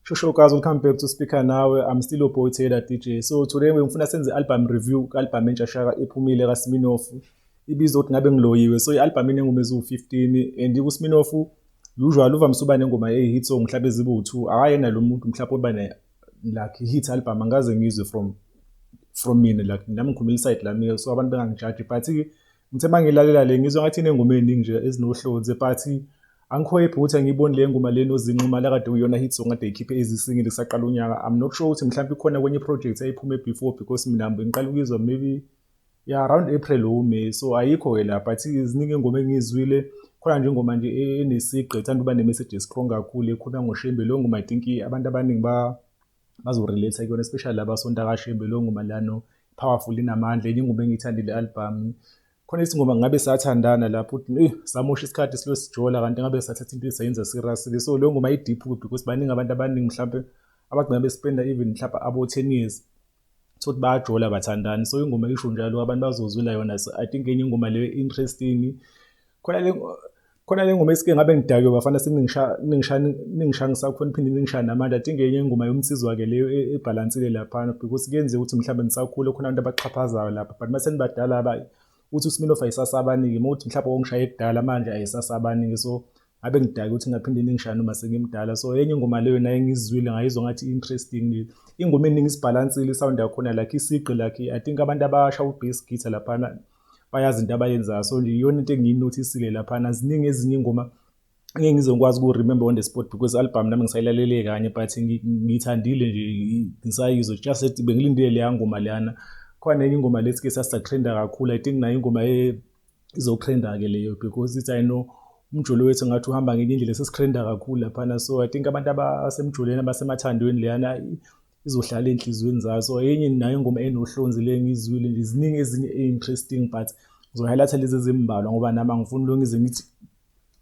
Shosho guys, welcome back to Speaker Nawe. I'm still your boy Taylor DJ. So today ngifuna senze album review album entsha shaka ephumile ka Sminoff. Ibizwa ukuthi ngabe ngiloyiwe. So i-album inengoma eziwu-15 and ku Sminoff usual uvamise uba nengoma eyi-hit song mhlawumbe ezibu-2. Akayena lo muntu mhlawumbe oba like hit album angaze ngizwe from from mina like nami ngikhulumela iside lami so abantu bengangijaji but ngithe uma ngilalela le ngizwa ngathi inengoma eningi nje ezinohlonze but angikhwephi ukuthi angiyiboni le ngoma le nozinquma lakade uyona hit song ade ikhiphe ezisingile kusaqala unyaka i'm not sure ukuthi mhlawumbe ikhona kwenye iproject eyayiphuma before because mina ngiqala ukuyizwa maybe ya around april or may so ayikho ke la but ziningi ingoma engiyizwile khona nje ingoma nje e-, enesigqi ethanda uba ne-message estrong kakhulu ekhuluma ngoshembe leyo ngoma i think abantu abaningi bazorelate kuyona especially laba sonta kashembe leyo ngoma lano powerful inamandla enye ingoma engiyithandile album khona isingoma ngabe sathandana lapho uthi eh samosha isikhathi silo sijola kanti ngabe sathatha into esayenza serious so leyo ngoma i deep because baningi abantu abaningi mhlawumbe abagcina bespenda even mhlawumbe abo 10 years sokuthi bayajola bathandani so ingoma isho njalo abantu bazozwela yona so i think enye ingoma leyo interesting khona le khona le ngoma esike ngabe ngidakwe bafana siningisha ningisha ningisha ngisakhona phinde ningisha namanje i think enye ingoma yomsizwa ke leyo e, ebhalansile lapha because kuyenzeka ukuthi mhlawumbe nisakhule khona abantu abaxhaphazayo lapha but mase nibadala abayi uthi uSminoff ayisasaba abaningi uma uthi mhlawumbe ongishaye kudala manje ayisasaba abaningi so ngabe ngidake ukuthi ngaphinde ningishaya noma sengimdala so enye ingoma leyo naye ngizwile ngayizwa ngathi interesting ingoma eningi isibhalansile isound yakhona like isigqi like i think abantu abasha u-bass guitar laphana bayazi into abayenzayo so nje iyona into engiyinothisile laphana ziningi ezinye ingoma ngeke ngizokwazi uku-remember on the spot because album nami ngisayilalele kanye but ngiyithandile nje ngisayizwa just ethi bengilindile leya ngoma leyana khona enye ingoma lethi ke sasisatrenda kakhulu i think nayo ingoma izotrenda-ke leyo because ithi i know umjolo wethu ngathi uhamba ngenye indlela sesitrenda kakhulu laphana so i think abantu abasemjolweni abasemathandweni leyana izohlala ey'nhliziyweni zayo so enye nayo ingoma enohlonzi le ngiyizwile nje ziningi ezinye e-interesting but ngizohighlight-a lezi ezimbalwa ngoba nami angifuni lonke ize ngithi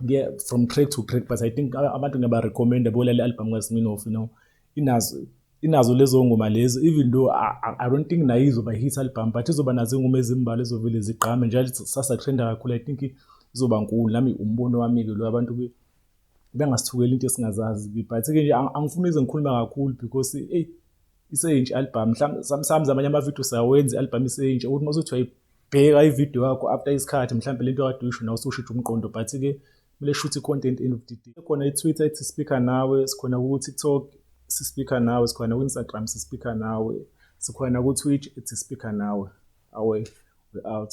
yeah, from crack to crack but i think abantu ngiyaba recommenda bolale album kaSminoff you know inazo inazo lezo ngoma lezo even though I, I don't think nayo izoba hit album but izoba nazo ingoma ezimbalwa ezovele zigqame njalo sasa trenda kakhulu i think izoba nkulu nami umbono wami ke lo abantu be bengasithukeli into esingazazi but ke nje angifuni ize ngikhuluma kakhulu because hey iseyintsha albhamu mhlawumbe sometimes amanye amavidiyo sawenza i-albhamu iseyintsha ukuthi uma usuthi wayibheka ividiyo yakho after isikhathi mhlawumbe le nto kade uyisho nawe usushitsha umqondo but-ke kumele shuthi i-content end of the day khona i-twitter ethi speaker nawe sikhona ku-tiktok sispeaker nawe sikhona ku-instagram sispeaker nawe sikhona ku-twitch ethi speaker nawe awe we-out